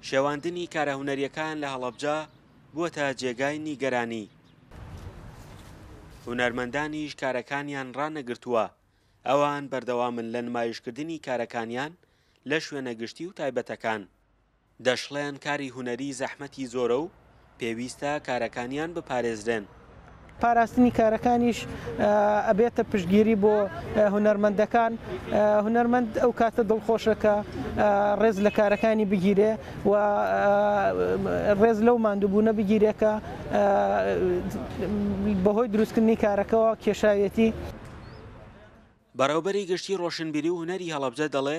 شێواندنی کارە هونەریەکان لە هەڵەبجە بووەتە جێگای نیگەرانی هونەرمەندانیش کارەکانیان ڕانەگرتووە ئەوان بەردەوامن لە نمایشکردنی کارەکانیان لە شوێنە گشتی و تایبەتەکان دەشڵێن کاری هونەری زەحمەتی زۆرە و پێویستە کارەکانیان بپارێزرێن. پاراستنی کارەکانیش ئەبێتە پشتگیری بۆ هونەرمەندەکان، هونەرمەند ئەو کاتە دڵخۆشە کە ڕێز لە کارەکانی بگیرێ و ڕێز لەو ماندووبوونە بگیرێ کە بەهۆی دروستکردنی کارەکەوە کێشاویەتی. بەڕێوبەری گشتی ڕۆشنبیری و هونەری هەڵەبجە دەڵێ،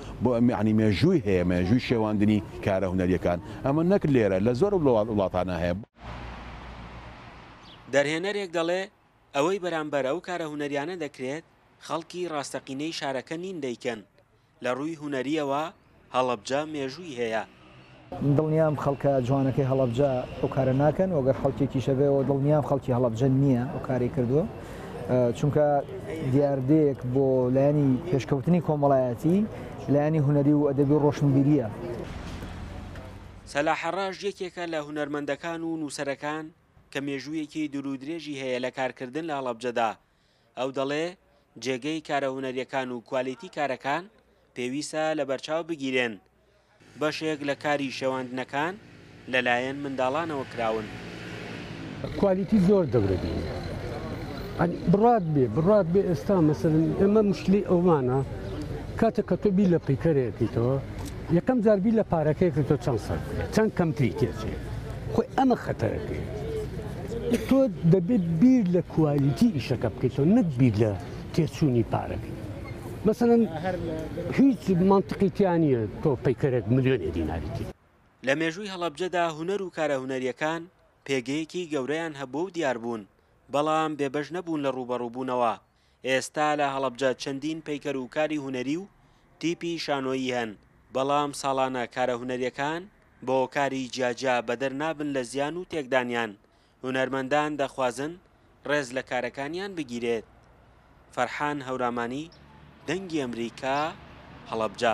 بۆ یەعنی مێژووی هەیە مێژووی شێواندنی کارە هونەریەکان ئەمە نەک لێرە لە زۆر وڵاتانا هەیە. دەرهێنەرێک دەڵێ ئەوەی بەرامبەر ئەو کارە هونەریانە دەکرێت خەڵکی ڕاستەقینەی شارەکە نین دەیکەن لە ڕووی هونەریەوە هەڵەبجە مێژووی هەیە، دڵنیام خەڵکە جوانەکەی هەڵەبجە ئەو کارە ناکەن و گەر خەڵکێکیشە بێ و دڵنیام خەڵکی هەڵەبجە نییە ئەو کاری کردووە چونکە دیاردەیەک بۆ لایەنی پێشکەوتنی کۆمەڵایەتی لایەنی هوەری و ئەدەبی و ڕۆشنبیریە. سەلاح ڕەش یەکێکە لە هونەرمەندەکان و نووسەرەکان کە مێژوویەکی دوورودرێژی هەیە لە کارکردن لە هەڵەبجەدا ئەو دەڵێ جێگەی کارە هونەریەکان و کوالێتی کارەکان پێویسە لەبەرچاو بگیرێن، بەشێک لە کاری شێواندنەکان لەلایەن منداڵانەوە کراون. کوالیتی زۆر گەورە بی عنی بڕات بێ بڕات بێ ئێستا مەسەلەن ئێمە مشکلی ئەومانە کاتێک کە تۆ بیر لە پیکەرێکیتەوە یەکەم جار بیر لە پارەکەی کە تۆ چەند سەر چەند کەمتری تێچێ خۆی ئەمە خەتەرەکەی تۆ دەبێت بیر لە کوالیتی ئیشەکە بکەیتەوە نەک بیر لە تێچوونی پارەکە مەسەن هیچ منتقیتیانە تۆ پیکەرێک ملیۆنێ دیناریتی لە مێژووی هەڵەبجەدا هونەر و کارە هونەریەکان پێگەیەکی گەورەیان هەبووە و دیاربوون، بەڵام بێبەش نەبوون لە ڕووبەڕووبوونەوە، ئێستا لە هەڵەبجە چەندین پەیکەر و کاری هونەری و تیپی شانۆیی هەن، بەڵام ساڵانە کارە هونەریەکان بۆ کاری جیا جیا بەدەر نابن لە زیان و تێکدانیان، هونەرمەندان دەخوازن ڕێز لە کارەکانیان بگیرێت. فەرحان هەورامانی، دەنگی ئەمریکا، هەڵەبجە.